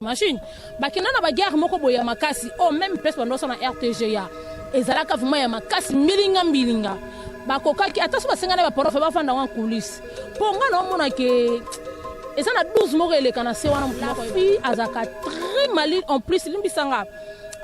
machine bakenda na baguerre moko boye ya makasi o oh, meme place bando osala na rtga ezalaka vraimen ya makasi mbilinga mbilinga bakokaki ata so basengani baporofe bafanda yango coulisse mpo ngai naomona ke eza na 12 moko eleka na se wana moto afi azalaka très malin en plus limbisanga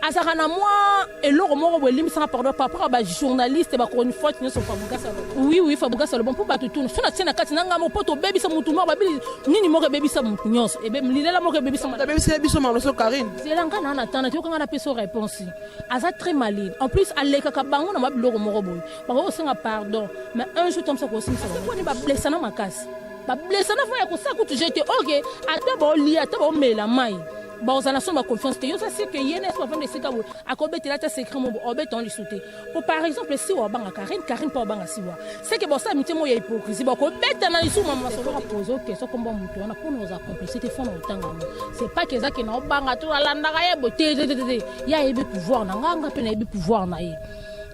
azalaka na mwa eloko moko boye elimbisaka pardon par rapport ba journaliste ba chronifuati nyonso fabugasa oui oui fabugasa lobo mpo bato tuna so natie na kati na ngai moko mpo tobebisa motu moko babili nini moko ebebisa motu nyonso lilela moko ebebisa abebisela biso maloso karine zela ngai naa natana te yoka ngai napesa réponse aza très malin en plus alekaka bango na mwa biloko moko boye bakoki kosenga pardon mais un jour tomisa kosimisa bango mponi bablesana makasi bablesana fo ya kosala kutu jete oke ata baolia ata baomela mai bakozala na son ba confiance te yo oza sir ke ye na espo afanda esika boye akobetela ata secret mobo obeta on lisu te po par exemple siwa obanga karine karine mpe obanga siwa seke bosala mitie moko ya hypocrisie bakobeta na lisu mama masolo pozo question kombo ya moto wana mpona oza complexe te fona otanga yango c'est pas que eza ke na obanga to alandaka ye bo te te te te ye ayebi pouvoir na nga nga mpe nayebi pouvoir na ye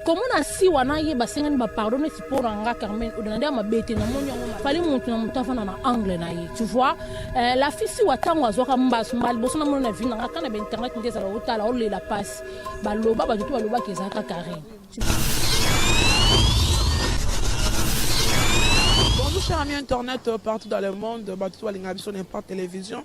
komona siwa na ye basengani bapardon neti mpo na nga carmen odana nde ya mabe te namoni yango fali motu na motu afanda na angle na ye tu vois euh, la fille siwa ntango azwaka mbasu mba liboso namona na vino nanga kana bainternet nde ezala otala olela mpasi baloba bato to balobaki ezalaka carine Bonjour chers amis internet euh, partout dans le monde, bato balinga biso n'importe télévision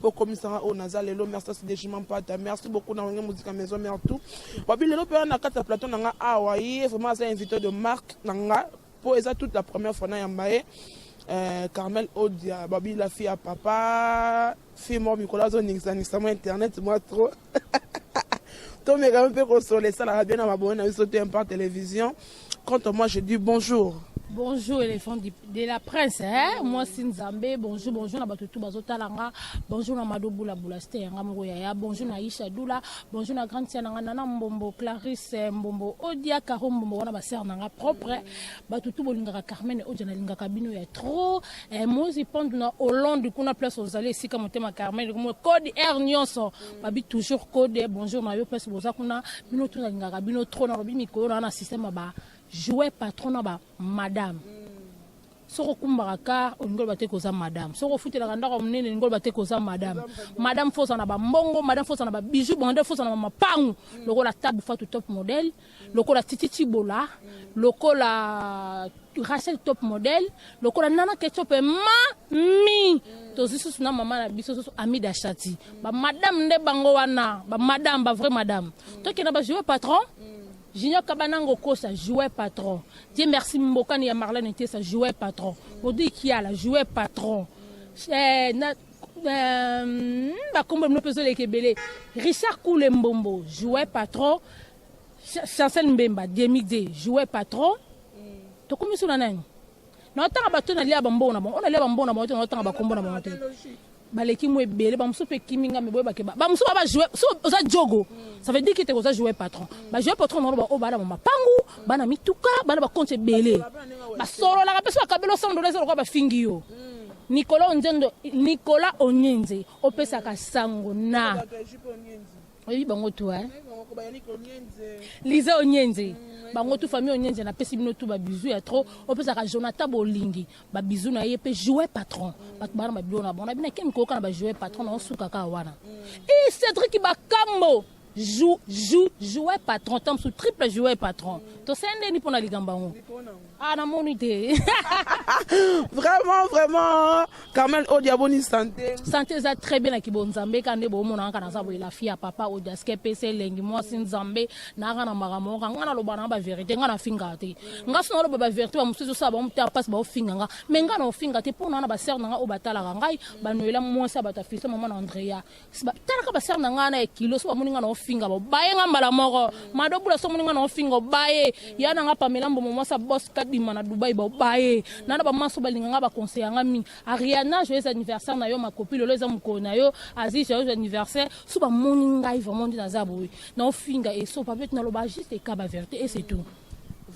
bokomisaka oyo naza lelo merci asi dejima mpata merci beaucoup na wenge muzika maison mère tout wabi lelo mpe na kati ya plateau na nga awa ye vraiment aza invité de marque na nga mpo eza toute la première fois na yamba ye euh, carmel odia babi la fille ya papa fille moko mikolo azoningisa mwa internet mwa trop tomekami mpe kosola esalaka bien na mabongi na biso te mpa television Quant à moi, je dis bonjour. Bonjour éléphant de la presse hein moi si Nzambe bonjour bonjour na bato tout bazo talanga bonjour na Mado Boula Boula c'était yanga moko yaya bonjour na Isha Doula bonjour na grande sœur nanga Nana Mbombo Clarisse eh, Mbombo Odia Caro Mbombo wana ba sœur nanga propre eh. bato tout bolingaka Carmen Odia na lingaka bino ya trop eh, moi je pense na Hollande kuna place ozali esika motema Carmen comme code air nyonso babi toujours code bonjour na yo pesi boza kuna bino to nalingaka bino trop na lobi mikolo na na système ba jouer patron na ba madame soki okumbaka kar olingi oloba te koza madame soki ofutelaka ndako monene olingi oloba te koza madame madame foza na bambongo madame foza na babiju bongo nde foza na bamapangu lokola tabu fatu top modele lokola Titi Chibola, lokola Rachel Top Model, lokola Nana Ketcho pe mami tozwi susu na mama na biso susu Amida Shati ba madame nde bango wana ba madame ba vrai madame tokenda ba joueur patron Junior Kabanango Kosa, joueur patron. Dieu merci Mbokani ya Marlène Tessa, joueur patron. Bodi Kiala, joueur patron. Eh, na, bakombo bino mpe ezoleka ebele richard kule mbombo jouer patron chancel mbemba demide jouer patron tokomi so na nani naotanga bato nalia bambongo na bango onalia bambongo na bango te naotanga bakombo na bango te baleki mo ebele bamosusu mpe ekimi ngambe boyebake bamosusu ba bajoue so oza jogo ça veut dire kete oza joue patron bajoue patron na bango baoyo bana ba mapangu bana mituka bana bakonti ebele basololaka mpe so bakabela osando na eza lokola bafingi yo mm. Nicolas Onzendo, Nicolas Onyenze, opesaka sango na oyebi bango tu hein? Liza Onyenze bango tu famille Onyenze napesi bino tu ba bisous ya trop opesaka Jonathan Bolingi ba bisous na ye pe jouer patron bato bana ba bilona bona bina kemi koyoka na ba jouer patron na osukaka wana e Cedric Bakambo Jou, jou, jouer patron, tant sous triple jouer patron. To sende ni pona ligambango. Ah, na moni te. vraiment, vraiment, Carmel Odia, bonne santé. Santé, ça très bien, ki bon Zambé, quand ne bon, mon anka na sabo, la fille à papa, Odia, ske pese, lengi, moi, sin Zambé, na rana maramo, quand on a l'obana, ba vérité, on a fingate. Nga son oloba ba vérité, ba musuzu sa, ba muta passe, ba finganga. Mais nga na fingate, pona na ba sœur, na obatala, ngai, ba noela, moi, sa, ba ta fils, maman Andrea. talaka basere na ngai na ya kilo so bamoni ngai na ofinga babaye ngai mbala moko mado bula so omoni ngai na ofinga obaye ya na ngai pamela mbomo mwasi abos kadima na dubai babaye na na bamaso balinga ngai baconseya ngai mingi ariana joyeux anniversaire na yo makopi lelo eza mokolo na yo azi joyeux anniversaire so bamoni ngai vraiment nde naza boye na ofinga eso papete naloba juste ekaba verité et c'est tout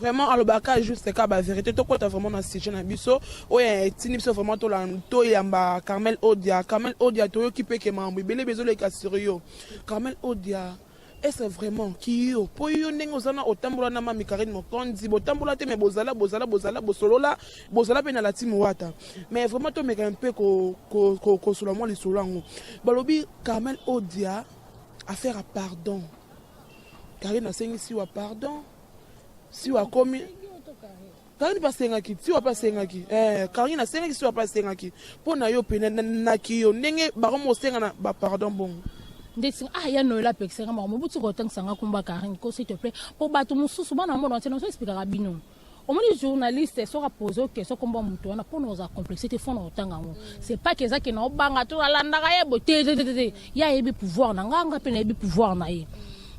Vraiment alobaka juste ka ba vérité tokota vraiment na sujet na biso oyo etindi biso vraiment toyamba Carmel Odia Carmel Odia toyoki mpe ke makambo ebele bezoleka sur yo Carmel Odia est-ce vraiment kiyo mpo yo ndenge oza na otambola na mami Karine Mokonzi botambola te mais bozala bozala bozala bosolola bozala mpe na lati mowata mais vraiment tomeka mpe kosola mwa lisolo yango balobi Carmel Odia affaire ya pardon Karine asengi siwa pardon. Siwa akomi Karine mpe asengaki siwa mpe asengaki eh, Karine asengaki siwa mpe asengaki mpo na yo mpe naki yo ndenge bakomi kosengana bapardon bongo ndeti ah ya noela apekisaka makambo botika kotangisa nga kumba Karine ko s'il te plaît mpo bato mosusu bana mbono ntina ozo explikaka bino omoni journaliste soki apose oyo question kombo ya moto wana mpo na ozala complexe te fo na otanga yango c'est pas que eza ke na obanga to nalandaka ye bo te te ye ayebi pouvoir na nga nga mpe nayebi pouvoir na ye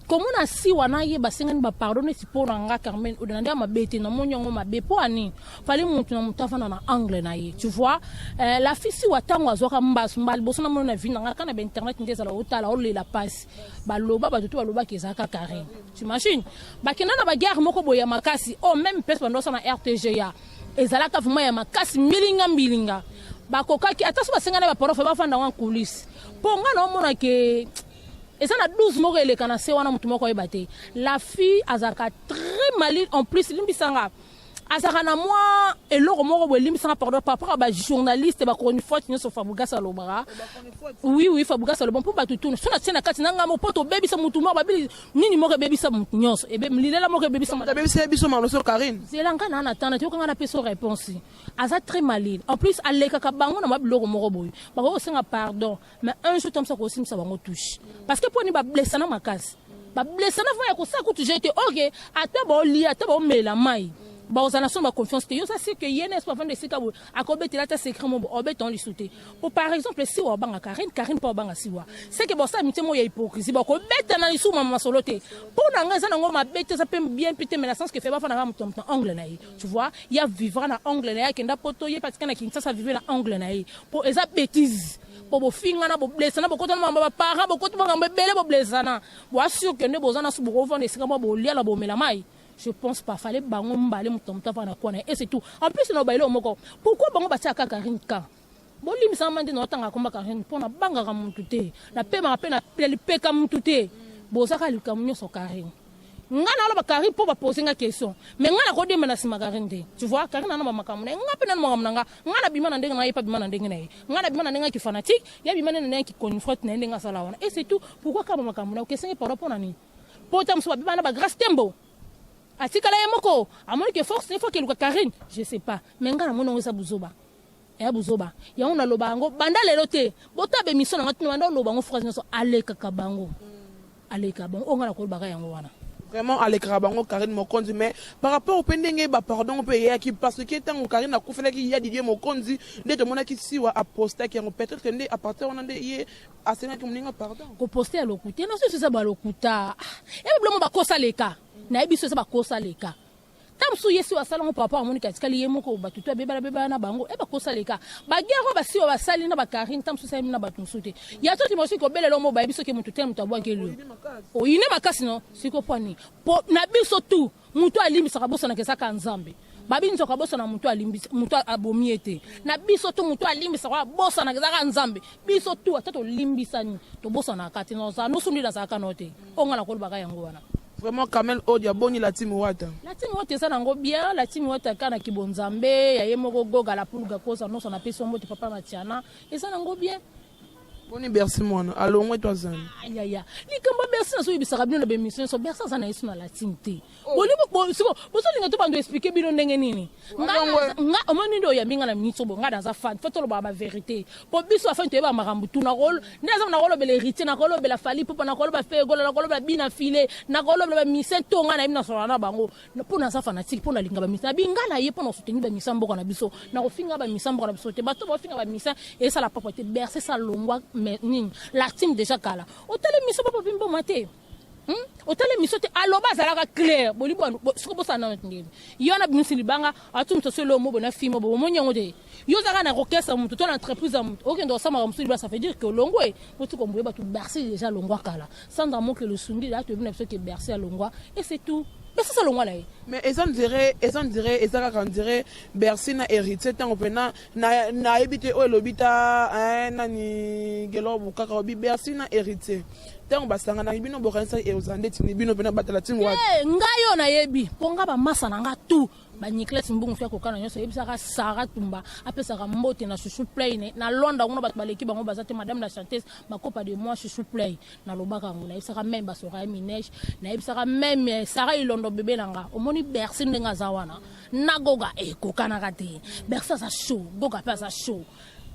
komona si wana ye basengani bapardon neti mpo na nga carmen oyo na nde ya mabe te namoni yango mabe mpo ani fali motu na motu afanda na angle na ye tu vois eh, la fille siwa ntango azwaka mbasu mba liboso namoni na vi na nga kaka na bainternet nde ezala otala olela mpasi baloba bato to balobaka ezalaka carine T'imagine bakenda na ba guerre moko boya makasi oh meme pesa bando sana RTGA ezalaka vraiment ya makasi milinga milinga bakokaki ata so basengana ba porofe bafanda wana coulisse mpo ngai naomona ke eza na 12 moko eleka na se wana moto moko ayeba te la fille azalaka très malile en plus limbisanga azalaka na mwa eloko moko boye elimbisaka pardon par rapport ya bajournaliste bachronifuati nyonso fabrigas alobaka oui oui fabrigas aloba mpo bato tuna so natie na kati na ngambo mpo tobebisa motu moko babili nini moko ebebisa motu nyonso ebe lilela moko ebebisa moto abebisela biso maloso karine zela ngai naa na tana te yoka ngai napesa réponse aza très malile en plus alekaka bango na mwa biloko moko boye bakoki kosenga pardon mais un jour toyamisa kosimbisa bango touche parce que mpo ni bablesana makasi bablesana vraimen ya kosala kutu jete oke ata baolia ata baomela mai bakozala na somo ya confiance te yo oza sike ye na espo avanda esika boye akobetela ata secret mobo obeta lisu te po par exemple siwa wabanga karine karine mpo wabanga siwa seke bosala mitie moko ya hypocrisie bakobeta na lisu mama masolo te mpo na ngai eza nango mabe te eza mpe bien mpe te mais na sens que fe bafanda kaka moto ya moto na angle na ye tu vois ya vivra na angle na ye akenda poto ye patika na kinshasa vive na angle na ye mpo eza betise mpo bofingana boblesana bokota na mambo baparent bokoti makambo ebele boblesana boasure ke nde boza naso bokovanda esika mwa bolia na bomela mai je pense pas fale bango mbale moto na moto avanda na kwana ye ese tout en plus na obaile moko pourquoi bango batiaka kaka rinka bolimbisa nga nde naotanga komba karine mpo nabangaka mutu te napemaka mpe na lipeka mutu te bozaka likambo nyonso karine ngai naloba karine mpo bapose nga question me ngai nakodemba na nsima karine te tu vois karine ana bamakambo na ye ngai mpe nani makambo na nga ngai nabima na ndenge na ye mpe abima na ndenge na ye ngai nabima na ndenge ya kifanatique ye abima nde na ndenge ya kiconifrete na ye ndenge asala wana e c'est tout pourquoi kaka bamakambo na ye okesengi pardon mpo na nini mpo ta mosusu babima na bagrace tembo atikala ye moko amoni ke force ne fo akeluka karine je sais pas me ngai namoni yango eza buzoba Y'a buzoba. Yango na loba yango banda lelo te. Bota be mission na ngatina banda loba yango phrase nyoso aleka kabango. Aleka bango. Onga na kolba ga yango wana. Vraiment alekaka bango Carine Mokonzi mais par rapport pe ndenge ba pardon pe eyaki parce que tango Carine akufelaki ya Didier Mokonzi nde tomonaki siwa apostaki yango peut-être que nde à partir wana nde ye asengaki moninga pardon ko poster ya lokuta na soso eza ba lokuta ah, et bilongo bakosa leka na ye biso eza bakosa leka ta mosusu ye si oyo asala yango par rapport amoniki atikali ye moko bato to abebala bebala na bango e eh, bakosala eka bagere oyo basi oyo basali na bakarine ta mosusu esalemi na bato mosusu te ya to timosi kobelela omo bayebi soki moto te moto abwaki elio oyine makasi no siko mpo nini mpo na biso tu moto alimbisaka bosanaka ezaka nzambe babi nzoka abosana moto alimbisa moto abomi ye te na biso tu moto alimbisaka abosanaka ezaka nzambe biso tu ata tolimbisani tobosanaka te noza nosundeli azalaka no te onga nakolobaka yango wana Vraiment Kamel Odia boni la team Wata. La team Wata eza nango bien, la team Wata ka na kibonzambe ya ye moko goga la pulga koza nosa na pesi mbote papa Matiana eza nango bien. Boni Bercy mwana alongwe to azali. Ah, ya ya. Likambo Bercy na soyi bisaka bino na bemission so Bercy azana yesu na la team te. Oh. Boni bo siko bozo linga to bando expliquer bino ndenge nini? Nga nga omoni ndo oyambi nga na minute bo nga naza fan. Faut toloba ba verite. po biso afin toyeba makambo tu nakol nde aza nakolobela héritier nakolobela fali popa nakoloba fegola nakolobela bina file nakolobela bamise to ngai nayebi nasola na bango mpo naza fanatike mpo nalinga bamisa na binga na ye mpo nasotengi bamisa mboka na biso nakofinga bamisa mboka na biso te bato bafinga bamisa esala papa te berse salongwa nini la team deja kala otali miso bapapi mboma te Hmm? otali miso te aloba azalaka claire bolibwa soko bosana nano tindeli yo na bimisi libanga atu moto sosi lomo bona fimo bo bomoni yango te yo ozalaka na kokesa moto to na entreprise ya moto okende osamaka mosusu libasa fait dire que olongwe oti komboye bato bercy déjà alongwa kala sandra moke losungi da toyebi na biso ke bercy alongwa et c'est tout bercy alongwa na ye mais eza ndire eza ndire eza kaka ndire bercy na héritier ntango mpena na nayebi te oyo elobi ta eh, nani gelobu kaka obi bercy na héritier ntango basanganaki bino bokanisaki ekozala ndeti ni bino mpena batala ntingo wapi Eh, ngai oyo nayebi mpo ngai bamasa na ngai tu banicles mbungu fi akokana nyonso ayebisaka sara tumba apesaka mbote na chouchou play ne- na londre kuna bato baleki bango baza te madame la chanteuse bakopa de moi chouchou play nalobaka yango nayebisaka meme basoraya minege nayebisaka meme eh, sara ilondo bebe na nga omoni bercy ndenge aza wana na goga ekokanaka eh, te berse aza show goga mpe aza show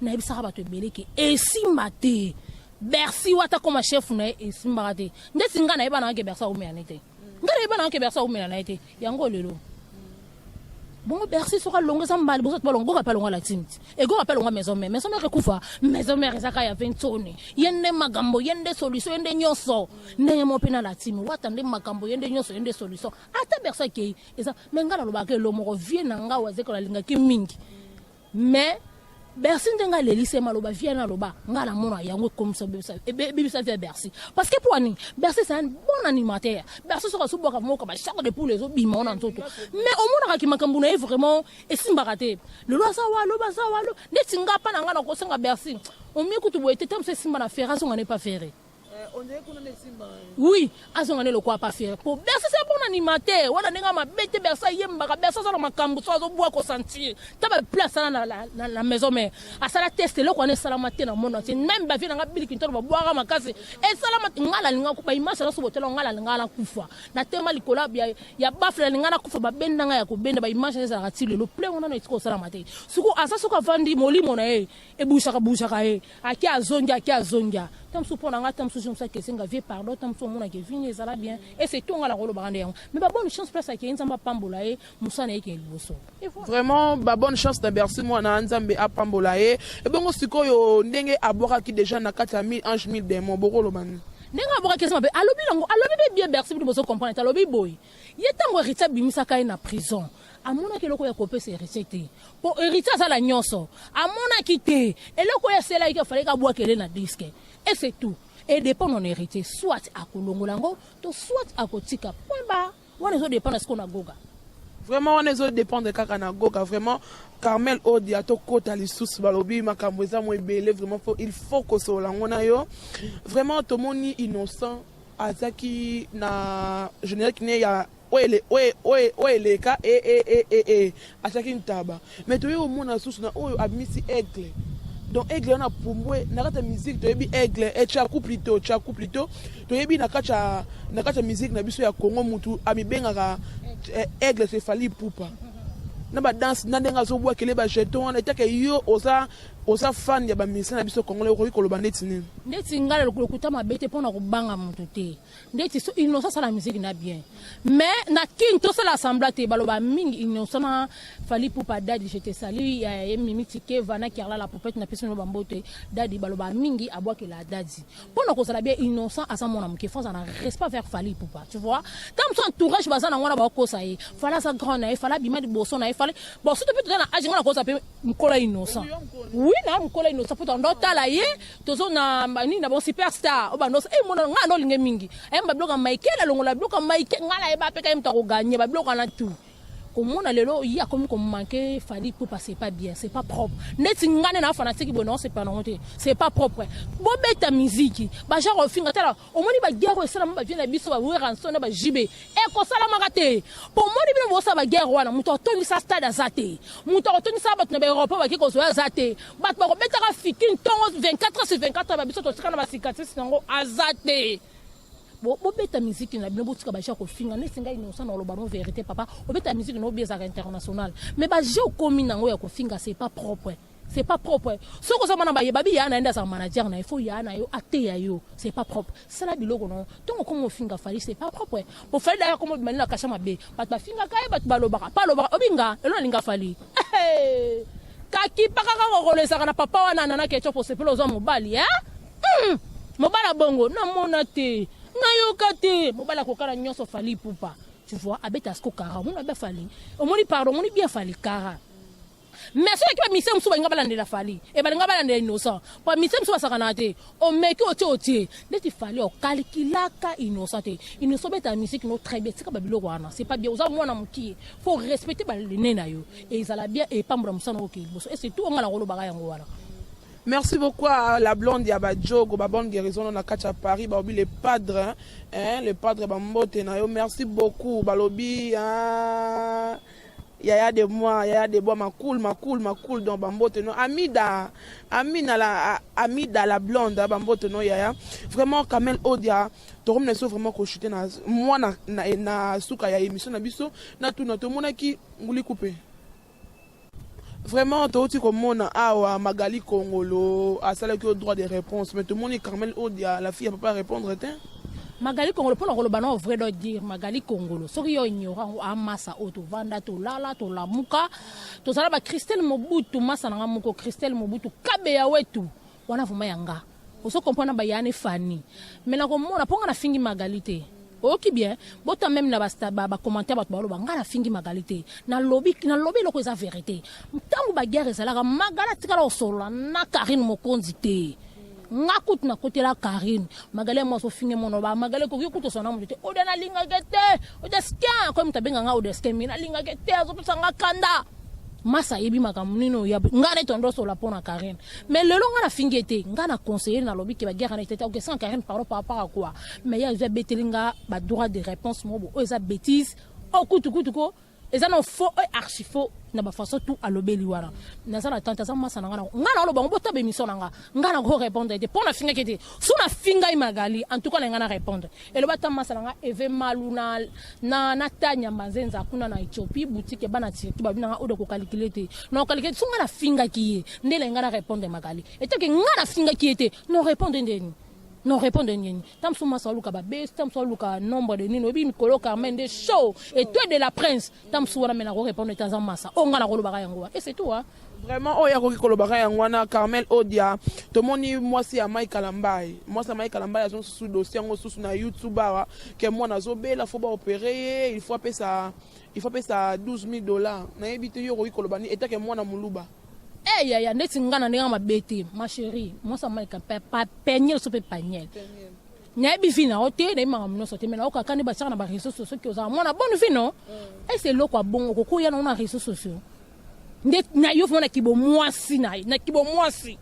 nayebisaka bato ebele ke esimba te bersi wata akoma chef na ye esimbaka te ndeti ngai nayeba nayake bersi aumela na ye te ngai nayeba nayake bersi aumela na ye te yango lelo bongo bersi soki alongo eza mbala liboso balongo goka mpe alongo latimti egoka mpe alongo maison mare maison mare ekufa maison mare ezaka ya ventone ye nde makambo ye nde solution ye nde nyonso ndenge mo mpe na latimi wata nde makambo ye nde nyonso ye nde solution ata bersi akei eza me ngai nalobaka elo moko vie na ngai wazeko nalingaki mingi me bercy ndenge alelise maloba vie na aloba ngai namona yango ekomisa ebebisa vie ya bercy parce que mpo nini bercy c'est un bon animateur bercy soki azobwaka moka bashako de poule ezobima wana nzoto mais omonaka ki makambo na ye vraiment esimbaka te lelo aza wa loba aza wa lo neti nga mpa na ngai nakosenga bercy omie kutu boye te ntango mosu esimba na ferre azonga ne pa ferre oui azonga nde lokola pafere po bersa eza bon animateur wana ndenge mabe te bersa ayembaka bersa aza na makambo so azobwa kosentir ta bapla asala na maison mare asala test eloko wana esalama te na monde entier meme bavie nanga bili kintolo babwaka makasi esalama nga nalinga baimage nyonso botela nga nalinga nakufa natema likolo ya bafle nalinga nakufa babenda nga ya kobenda baimage ezalaka ti lelo ple wana na esika osalama te soko aza soki avandi molimo na ye ebusaka busaka ye ake azongi ake azongia ntango mosusu mpo na ngai ntango mosusu mosusu ake esenga vie pardon ntango mosusu omonaka evini ezala bien ese to ngai nakolobaka nde yango mais babone chance place akei nzambe apambola ye mosana yekee liboso vraiment babone chance na bercy mwana nzambe apambola ye ebongo sikoyo ndenge abwakaki deja na kati ya 1000 ange 1000 demon bokoloba nini ndenge abwakaki eza mabe alobi nango alobi be bien bercy bino bozo comprendre te alobi boye ye ntango heritier abimisaka ye na prison amonaki eloko ya kopesa heritier te mpo heritier aza na nyonso amonaki te eloko oyo aselaki te afalaki abwakele na diske ese tout edependre na heritier soit akolongola yango to soit akotika point ba wana ezodependre siko na goga vraiment wana ezodependre kaka na goga vraiment carmel odia tokota lisusu balobi makambo eza mo ebele vraiment po il faut kosolola yango na yo vraiment tomoni innocent azaki na général kine ya Oyo eleka eeeeee atiaki ntaba mais toye komona lisusu na oyo abimisi aigle donc aigle wana apumbue na kati ya musique toyebi aigle et chaku plutot chaku plutot toyebi na kati ya na kati ya musique na biso ya Congo mutu amibengaka aigle c'est Fally Ipupa na ba danse na ndenge azobwakele ba jeton wana etake yo oza oza fan ya ba musicien na biso congolais okoki koloba ndeti nini. Ndeti nga lokuta mabe te pona kobanga mutu te. ndeti so innocent asala musique na bien mais na kin tosala assembla te baloba mingi innocent na fali pupa dadi je te salue ya ye mimi tikeva na kerla la popete na pesi no bamboto ye dadi baloba mingi abwakela dadi mpo na kozala bien innocent aza mwana moke fo aza na respect vers fali pupa tu vois ntango mosusu entourage baza na ngwana bakokosa ye fali aza grand na ye fali abima liboso na ye fali bon soto mpe toza na age ngwana kokosa mpe mokolo ya innocent wi na mokolo ya innocent mpo tondotala ye tozo na nini na bon super star oba no eh mona nga no linge mingi eh ba bloka Michael alongola bloka Michael nga na eba pe ka mta ko gagner ba bloka na tout komona lelo ye akomi komanke fali pupa c'est pas bien c'est pas propre neti nga nde na fanatique boye nao sepela nango te c'est pas propre bobeta miziki bagenre ofinga tala omoni ba guerre oyo esalama ba vieux na biso ba Werrason na ba JB ekosalamaka te omoni bino bosala ba guerre wana moto atondisa stade aza te moto akotondisa bato na ba Europe baki kozwa aza te bato bakobetaka fiki ntongo 24 sur 24 ba biso totika na ba cicatrice nango aza te bobeta miziki na bino botika baje ya kofinga neti ngai nosa na oloba no verité papa obeta miziki na obi ezalaka international mais baje okomi nango ya kofinga c'est pas propre c'est pas propre soki oza mwana baye babi yaa na yende azala manager na ye fo yaa na yo ateya yo c'est pas propre sala biloko na yo ntongo okomi ofinga fali c'est pas propre po fali daya komi obima nde na kasha mabe bato bafingaka ye bato balobaka pa alobaka obinga elo nalinga fali kakipaka kaka okolesaka na papa wana nana ketchup osepela oza mobali eh? mm. mobali abongo namona te nayoka te mobali akokana nyonso fali pupa tu vois abeta siko kara omoni abe fali omoni pardon omoni bien fali kara mais soki ba mise mosusu balinga balandela fali e balinga balandela innocent ba mise mosusu basakanaka te omeki otie otie ndeti fali okalkilaka innocent te innocent obeta musique no très bien tika babiloko wana c'est pas bien oza mwana mokie faut respecter balene na yo ezala bien epambola mosana oke liboso e surtout onga na kolobaka yango wana Merci beaucoup à la blonde ya Badjogo, ba bonne guérison na kati ya Paris, ba obi le padre, hein, le padre ba mbote na yo. Merci beaucoup, balobi hein. Yaya de moi, yaya de moi, ma cool, ma cool, ma cool, donc bambote no. Amida, Amina la, Amida la blonde, hein, bambote no yaya. Vraiment, Kamel Odia, torom na so vraiment ko chuter na moi na, na, na suka ya émission na biso, na tout na tomonaki nguli coupe. Vraiment, touti komona awa Magali Kongolo asalaki au droit de réponse, mais tomoni Carmel Odia, la fille ya papa répondre te. Magali Kongolo pona koloba na vrai doit dire Magali Kongolo soki yo ignorant ngo amasa ah, oyo tovanda tolala tolamuka tozala ba Christelle Mobutu masa nanga moko Christelle Mobutu kabe ya wetu wana vraiment yanga ozo comprendre ba Yane Fanny mais nakomona mpo nga nafingi Magali te oyoki bien bota meme na bacommentaire bato baloba ngai nafingi magali te nalobi nalobi eloko eza verité ntango baguerre ezalaka magali atikala kosolola na karine mokonzi te nga kutu nakotela karine magale yango azofinge mono ba magale koki kutu osana moto te oda nalingaki te odeskin akomi moto abenga nga odeskin mi nalingaki te azopesa nga kanda masa ayebi makambo nini oya nga neti ondosola mpo na karine mais lelo nga nafingi ye te nga na conseiller nalobi ke baguerre neti te okesanga karine pardon par rapport a quoi mais ye azwi abeteli nga badroit de réponse mobo oyo eza bétise okutukutu oh, ko eza na faux et archi faux na ba façon tout alobeli wana naza na tante aza masa na nga nga na oloba ngo botaba émission na nga nga na ko répondre te pona finga kete so na finga magali en tout cas na nga na répondre eloba ta masa na nga eve malu na na na tanya manzenza kuna na Ethiopie boutique bana tirki ba bina nga odo ko calculer te na calculer so nga na finga ki ye nde na nga na répondre magali et que nga na finga ki ye te non répondre ndeni non répondre ndeni ntango mosusu mwasi aluka babesi ntango mosusu aluka nombre de nini oyebi mikolo carmen nde show et toi de la prince ntango mosusu wana me nakorepondre ete aza masa oyo ngai nakolobaka yango wa ese tu wa vraiment oyo akoki kolobaka yango wana carmel odia tomoni mwasi ya mai kalambai mwasi ya mai kalambai azo susu dossier yango susu na youtube awa ke mwana azobela fo baopere ye il faut apesa il faut apesa 12 000 dollars nayebi te yo okoki koloba ni etake mwana moluba Eh hey, yaya ndeti nga na ndenge mabe te ma chérie mwasi ya mike pa peniel so mpe paniel nayebi vi na yo te nayebi makambo nyonso te mai nayoka kani batiaka na bareseau sociaux soki ozala mwana bone vi no mm. ese eloko ya bongo okokoya nango na reseau sociaux nde nayo vraimen na kibomwasi na ye na kibomwasi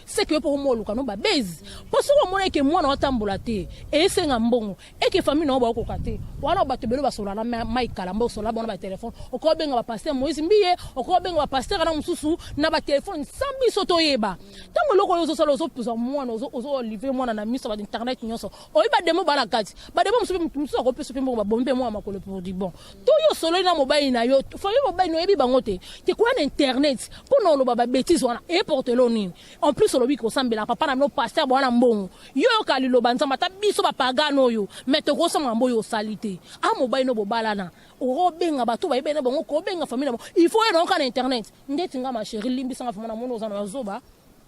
seke yo mpo omo oluka no babezi mpo soki omona eke mwana watambola te esenga mbongo eke famille na yo baokoka te wana bato ebele basola na mai kala mbo osola bona batelefone okoki obenga bapaster moïse mbiye okoki obenga bapaster na mosusu na batelefone sa biso toyeba ntango eloko oyo ozosala ozozwa mwana ozolive mwana na miso ya bainternet nyonso oyi bademo baa na kati bademo mosusu akopesa mpe mbongo babombi mpe mwa makolo pour du bon to yo osololi na mobali na yo famille mobali na oyebi bango te te kuna na internet mpo na oloba babetise wana eportelo nini en plus olobi kosambela papa na bino paster bwana mbongo yo oyoka liloba nzambe ata biso bapagano oyo me tokosama mambo oyo osali te a ah, mobali no bobalana okobenga bato bayebi na bango kobenga famille na bango il faut oyo nayoka na internet ndeti nga ma chérie limbisanga vraimen na moni oza na bazoba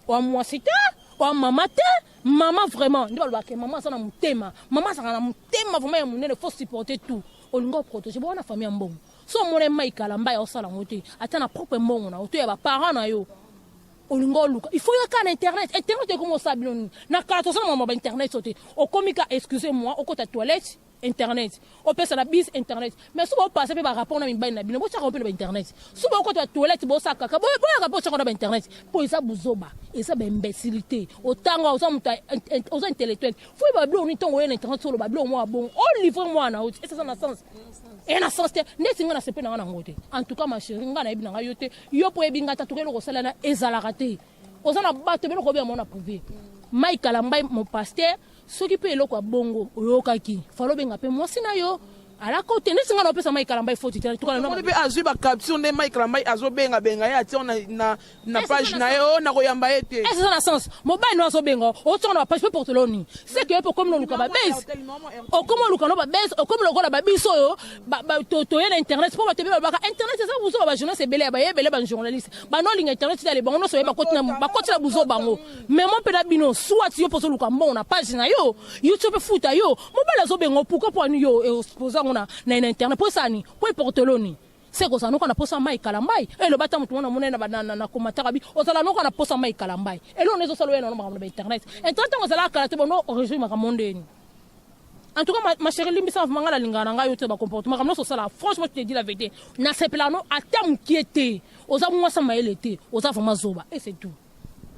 wa mwasi te wa mama te mama vraiment nde balobaka ke mama aza na motema mama azalaka na motema vraiment ya monene faut supporter tout olingi oprotege bo wana famille ya mbongo so omona mai kalamba ya osala yango te ata na propre mbongo na yo to ya baparent na yo olingi oluka il faut yaka na internet internet ekomi osala bino nini na kala tozala mama bainternet so te okomi ka excuse moi okota toilette internet opesa na bis internet mais soki bopasa mpe barapport na mibali na bino botyaka mpe na bainternet soki bokota batoilette bosaka kaka boyaka mpe otyaka na bainternet mpo eza buzoba eza baimbecilité otanga oza moto oza intellectuel foi babilo nini ntongo oye na internet oloba bilo mwa bongo olivre oh, mwana oti eseza na sens eye na sens te ndeti ngai nasepe na ngai nango te en tout cas ma chérie ngai nayebi na ngai yo te yo mpo oyebi ngai ta tokoki eloko osalana ezalaka te oza na bato beloko obe yango na privé mai kalambai mopaster soki pe eloko ya bongo oyokaki falo benga pe mwasi na yo ala kote neti nga naopesa mai kalamba ifoti te tukalamoni mpe azwi bacapture nde mai kalamba azobenga benga ye atia na, na, na page na ye o nakoyamba ye te eza na sens mobali no azobenga otonga na bapage mpe porteloni seke yo mpe okomi noluka babase okomi oluka no babase okomi lokola babiso oyo toye na internet mpo bato ebe babaka internet eza buzoba bajournaliste ebele ya baye ebele bajournaliste banolinga internet tale bango nyonso baye bakoti na buzoba bango mema mpe na bino soit yo mpo ozoluka mbongo na page na yo youtube efuta yo mobali azobenga pourkoi mpo ani yo expose yango na internet mpo esani mpo eporteloni se kozala noka na posa mai kalambai eloba ata motu mwana monene na komataka bi ozala noka na posa mai kalambai eloo na ezosala oyo na makambo na bainternet internet ntango ezalaka kala te bono origine makambo ndeni en tout cas ma chérie limbisa manga nalingaka na ngai yo te bacomportement makambo nyonso osala franchement tu te dis la vérité nasepelaka no ata mokie te oza mwasa mayele te oza vraiment zoba et c'est tout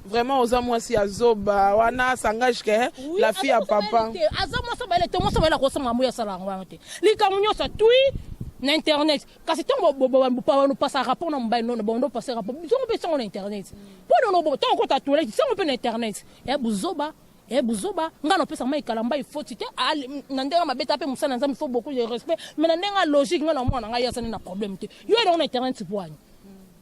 Vraiment oza mwasi ya zoba wana sangage ke oui, la fille ya papa aza mwasi abayele te mwasi abayele akosanga yango yasala yango wana te likambo nyonso twi na internet kasi ntango bopasa rapport na mobali nono bango ndopasa rapport bizongo mpe sango na internet mpo nono ntango kota toilette sango mpe na internet ya buzoba e buzoba ngai napesa mai kalamba ifoti te ah, na ndenge mabeta mpe mosala na nzambe faut beaucoup de respect mais na ndenge ya logique ngai na mwana ngai azali na problème te yo elongo na internet bwani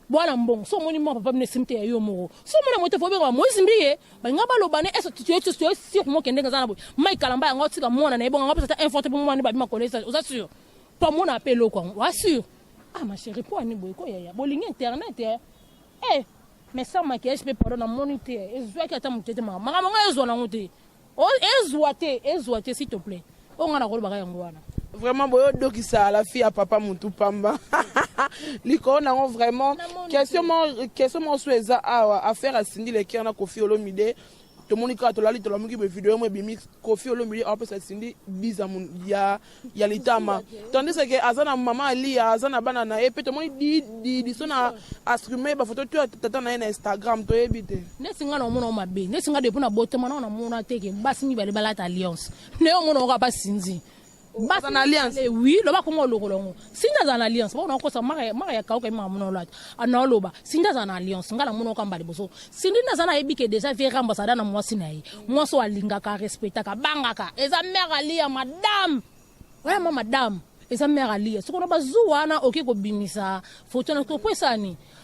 bwana mbongo so omoni mwa papa bino esimi te ya yo moko so omona moto efo obengama moise mbiye balinga balobana ese tuyo sur moke ndenge eza na boye mai kalamba yango otika mwana na ye bongo yango apesa ata info te mpo mwana nde babima kolesa oza sur mpo amona mpe eloko yango oa sur ah ma chérie mpo ani boye koyaya bolingi internet ya eh mais sans maquillage mpe pardon namoni te ezwaki ata moke te makambo yango ezwa nango te Oh, ezwa te ezwa te s'il te plaît oyo ngai nakolobaka yango wana vraiment boyo dokisa la fille ya papa mutu pamba likolo nango vraiment question moko so eza awa affaire ya sindi le cœur na kofi olomide tomoni kaka tolali tolamuki bovideo yango ebimi kofi olomide aopesa sindi biza ya ya litama tandis que aza na mama aliya aza na bana na ye mpe tomoni didiso na astrume bafoto to ya tata na ye na instagram toyebi te ndesi ngai naomona mabe ndesi ngai depuis na botema nao namona te ke basi mibale balata alliance naye omona oka basinzi basa na alliance eh oui loba kongo olokola yango Sinda aza na alliance mpo nakosa maka ya kauka imaka mona olata anaoloba Sinda aza na alliance ngai namona oka mbala liboso Sindi nde aza nayebi ke deja vie ramba azala na mwasi na ye mwasi oyo alingaka arespectaka abangaka eza mare aliya madame oya ma madame eza mare aliya sikoyo na bazu wana oke kobimisa foto na mpo esani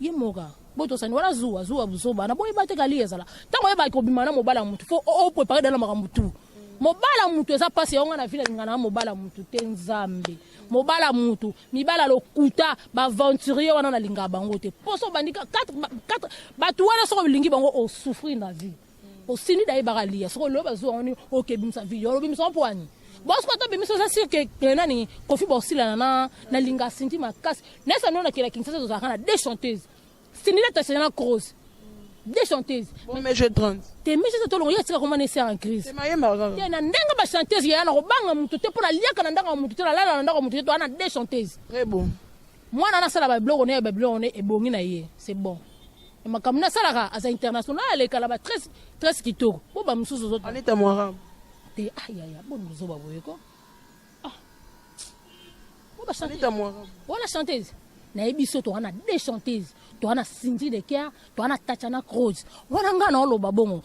ye moka botosani wana zuwa zuwa buzoba na boyeba te kali ezala ntango oyebaki kobima na mobala motu fo oprepare dala makambo tu mobala motu eza mpasi yango na vile alingana na mobala motu te nzambe mobala motu mibala lokuta baaventurier wana nalingaka bango te mposo obandi bato wana soki olingi bango osouffrir na vie po sini da yebaka liya soko loba zuwa ngoni oke bimisa video lobi misa po ani bosi ko to bimisa oza sur ke eh, nani kofi bosilana na na linga sinti makasi nesa nona kila kinsasa tozalaka na deux chanteuses sini la tasela na cross deux chanteuses mais je trente te misi to longo ya tika komana esi en crise te na ndenge ba chanteuses ya na kobanga mutu te pona liaka na ndanga mutu te na lala na ndanga mutu te to ana deux chanteuses très bon mwana nasala ba biloko ne ba biloko ne ebongi na ye c'est bon Makambo na salaka aza international aleka na ba tres tres kitoko. Bo ba mususu zo. Anita Mwarabu. Te ah ya ya bon muzo ba boye ko. Ah. Bo ba chanteuse. Anita Mwarabu. Wala chanteuse. Na yebi so to wana deux chanteuses. To wana Cindy de Kerr, to wana Tatiana Cruz. Wana nga na oloba bongo.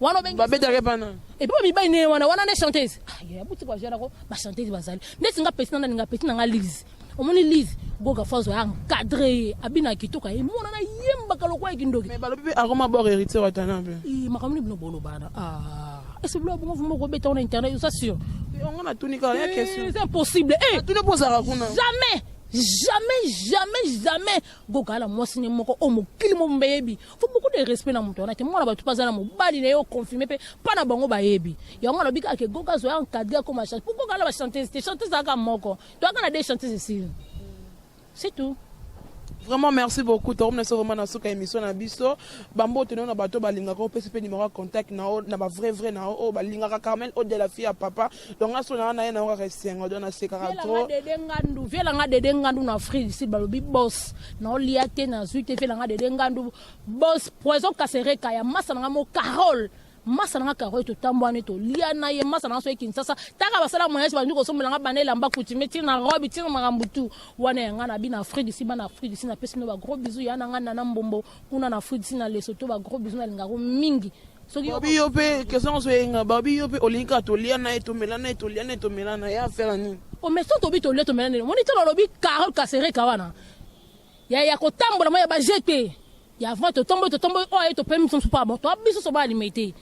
wana obengi babetaka epa nani epa ba mibali ne wana wana nde chanteuse ah, ya buti kwa jana ko ba chanteuse bazali ndeti nga pesi na nani nga pesi na nga lise omoni lise goga fazo ya encadre ye abina kitoko ye mona na yembaka lokola ye kindoki mais balobi pe akoma bor héritier wa tana pe eh makambo ni bino bolobana ah est ce que bino bongo vraiment kobeta wana internet oza sûr yango natuni kaka ya question eh, c'est impossible eh tuni po ozalaka kuna jamais jamais jamais jamais gokala mwasi ne moko oyo mokili mobimba eyebi faut beaucoup de respect na moto wana te mwana bato mpe aza na mobali na ye oconfirme mpe mpa na bango bayebi yango alobi kaka ke goka azoya encadre akoma change pourquoi kala bachanteuse te chanteuse kaka moko toyaka na de chanteuse esili c'est tout vraiment merci beaucoup tokomi na so vraiment na suka émission na biso bambote nao na bato balingaka opesi mpe numero ya contact nao na bavrai vrai nao oyo balingaka carmel ode la fille ya papa donc aso na na na kaka esengo donc na sekaka trop dede ngandu vela nga dede ngandu na Afrique du Sud balobi boss na olia te na zui te vela nga dede ngandu boss poison kasereka ya masa na mo Carole masa na nga Carole totambwani tolia na ye masa na nga soki Kinshasa taka basala moyage bandi kosombela nga bana elamba coutume ti na robe ti na makambo tu wana ya nga na bina Afrique du Sud bana Afrique du Sud napesi bino ba gros bisous ya na nga nana mbombo kuna na Afrique ti na Lesotho ba gros bisous nalingaka yo mingi soki babi yo mpe kestion oso eyenga babi yo mpe olingi kaka tolia na ye tomela na ye tolia na ye tomela na ye afela nini omeso tobi tolia tomela nini omoni ntina olobi carole kasereka wana ya ya kotambola ma ya bajete ya avant totomboli totomboli oyo aye topemi biso mpo abo toabiso soba alimete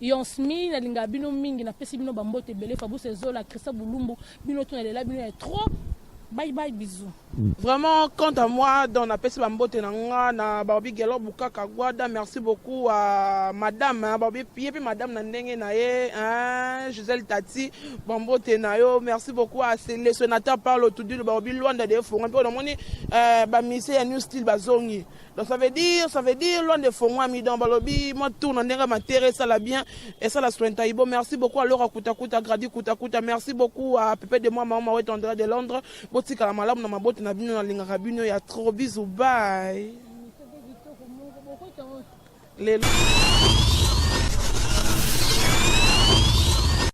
Yonsmi nalingaka bino mingi napesi bino bambote ebele Fabrice Ezola Christian Bulumbu bino to nalela bino ya trop bye bye bisous Vraiment, quant à moi, dans la peste bambote na nga na Barbie Gelor Bukaka Guada, merci beaucoup à madame hein, Barbie Pie puis madame na ndenge na ye hein, Gisèle Tati bambote na yo, merci beaucoup à le sénateur Paulo Tudilo Barbie Luanda de Fonga mpe na moni euh, ba musiciens ya New Style bazongi Donc ça veut dire, ça veut dire loin de Fongwami donc balobi moi tourne ndenge matere ça la bien et ça la soin taibo. Merci beaucoup à Laura Kuta Kuta Grady Kuta Kuta. Merci beaucoup à Pepe de moi maman Wet Andrea de Londres. Botika la malamu na maboti na bino na linga rabino ya trop bisous bye. Lelo